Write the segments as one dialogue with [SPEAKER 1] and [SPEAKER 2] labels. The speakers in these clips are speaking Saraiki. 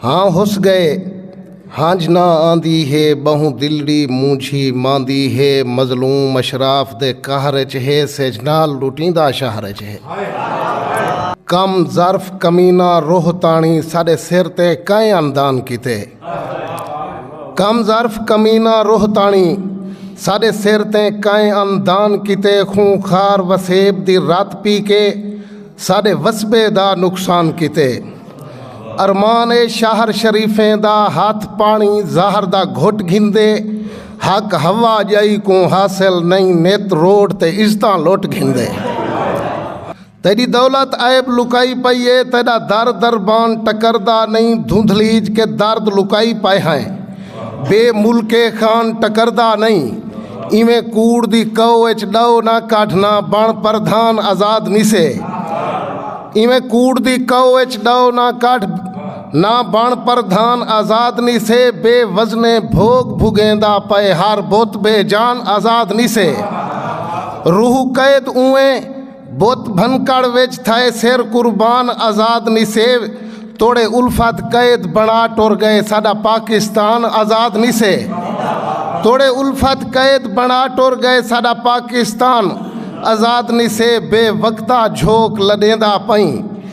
[SPEAKER 1] ہاں ہس گئے ہنج نہ آندی ہے بہوں دلڑی مونجھی ماندی ہے مظلوم اشراف دے قہر اچ ہے سجنال لٹیندا شہر اچ ہے کم ظرف کمینہ روہ تاݨی ساݙے سر تے کئیں اندان کیتے کم ظرف کمینہ روہ تاݨی ساݙے سر تے کئیں اندان کیتے خوں خار وسیب دی رت پی کے ساݙے وسبے دا نقصان کیتے۔ ارمان اے شہر شریفیں دا ہتھ پاݨی زہر دا گھٹ گھندے حق ہوا جائی کوں حاصل نئیں نت روڈ تے عزتاں لٹ گھندے تیڈی دولت عیب لکائی پئی اے تیڈا در دربان ٹکردا نئیں دھندھلیج کے درد لکائی پئے ہیں بے ملکے خان ٹکردا نئیں ایویں کوڑ دی کئو اچ ڈو نہ کڈھ نہ بن پردھان آزاد نیسے ایویں کوڑ دی کئو اچ ڈو نہ کڈھ نہ بن پردھان آزاد نیسے بے وزنے بھوگ بھگیندا پئے ہر بت بے جان آزاد نیسے روح قید اوئیں بت بھنکڑ وچ تھئے سر قربان آزاد نی سیو توڑے الفت قید بنا ٹر گئے ساڈا پاکستان آزاد نی سے توڑے الفت قید بنا ٹر گئے ساڈا پاکستان آزاد نی سے بے وقتا جھوک لڈیندا پئیں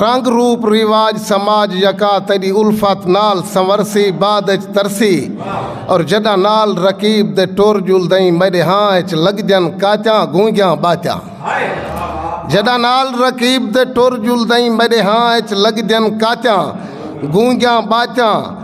[SPEAKER 1] رنگ روپ رواج سماج یکا تیڈی الفت نال سنورسی بعد اچ ترسی اور جڈاں نال رقیب دے ٹر جل دئیں میڈے ہاں اچ لگ جن کاتیاں گونگیاں باتیاں جڈاں نال رقیب دے ٹر جل دئیں میڈے ہاں اچ لگ جن کاتیاں گونگیاں باتیاں